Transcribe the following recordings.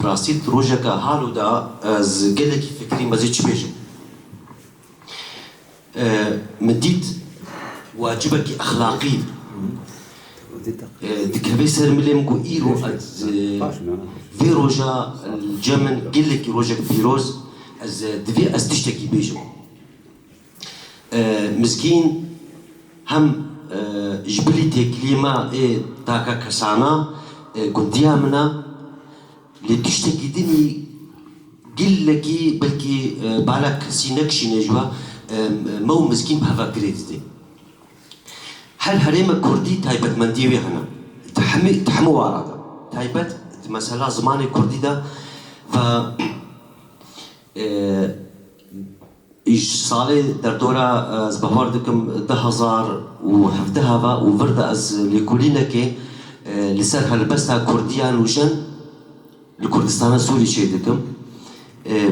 Bi rastî di rojeke halo de ez gelekî fikirîm, ez ê çi bêjim. Min dît wacibekî exlaqî dikeve ser milê min ku îro ez vê roja li cem min gelekî rojek pîroz ez divê ez tiştekî bêjim. Mizgîn hem ji bilî têkiliyê me ê taka kesana gundiya min e lê tiştekî din î gilekî belkî bala kesî nekişîne ji we me û Mizgîn bi heva girê didin. Her herêmek kurdî taybetmendiyê wê hene di hemî di hemû wara de taybet di mesela zimanê kurdî de ve. Îj salê derdora ez bawer dikim du hezar û hevdeh e ve û vir de ez lêkolînekê li ser helbesta Kurdiyan û jin li Kurdistana Sûrî çê dikim.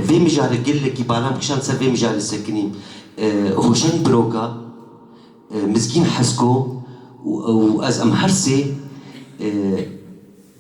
Vê mijarê gelekî balam kişand ser vê mijarê sekinî Hûşeng Biroka, Mizgîn Hesko û ez em her sê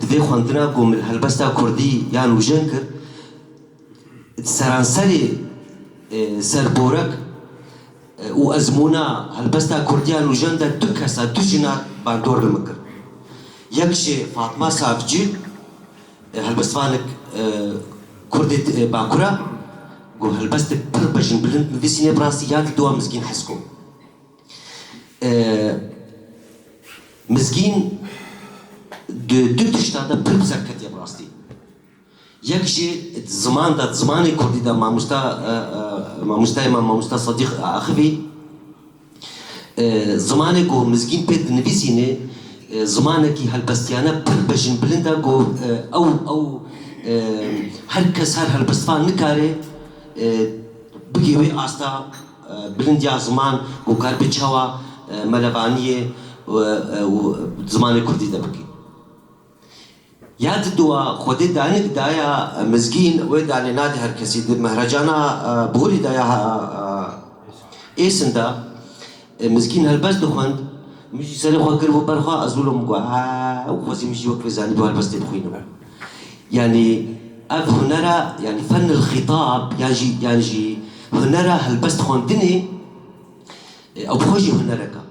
Di vê xwendina ku min helbesta kurdî ya nûjen kir, di seranserê ser borek û ezmûna helbesta kurdî ya nûjen de du kesa, du jina bandor li min kir. Yek jî Fatma Savcî, helbestvanek kurdê Bakur e, ku helbestek pir bejinbilind nivîsîne bi rastî ya li dûa Mizgîn Hesko. Mizgîn di du tişta de pir bi ser ketiye bi rastî. Yek jî di ziman de, di zimanê kurdî de mamosta mamostayê me mamosta Sedîq Axivî zimanê ku Mizgîn pê dinivîsînê zimanekî helbestiyane pir bejinbilind e ku ew ew her kes her helbestvan nikare bigê wê asta Bilindiya ziman ku kar bi çawa melevaniyê û zimanê kurdî de bike. Ya di dua Xwedê danik daya mizgîn, wê danê nade her kesî. Di mehracana borî de ya Êsin de mizgîn helbest dixwend, min jî serê xwe kiribû ber xwe, ez wilo min got, Ew! Xwezî min jî wek vê zanîbû helbestê bixwînim. Yanî ev hunera yanî fennul xîtab yan jî yan jî hunera helbest xwendinê ew bi xwe jî hunerek a.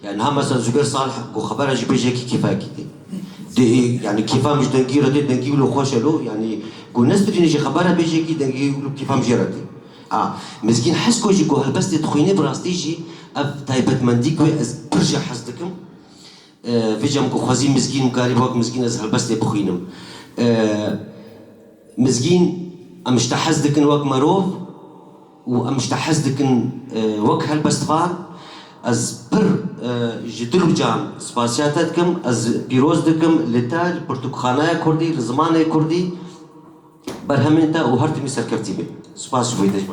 Yani niha mesela Zubêr Salih ku xebera jî bê ji yekî kêfayekî tê. Dê yani kêfa min ji dengî re tê, dengî wilo xweş e lo yanî ku nesirînê jî xebera bê ji yekî dengî wilo kêfa min jê re tê. Ha mizgîn Hesko jî ku helbestê dixwînê bi rastî jî ev taybetmendî ku ez pir ji hez dikim. Vijam ku xwezî mizgîn bikarî bi wek mizgîn ez helbestê bixwînim. Mizgîn em ji te hez dikin wek merov û em ji te hez dikin wek helbestvan. Ez pir ji dil û can spasiya te dikim. Ez pîroz dikim li te, li pirtûkxanaya kurdî, li zimanê kurdî berhemên te û her timî serkevtî bî. Spas ji bo yê te ji bo.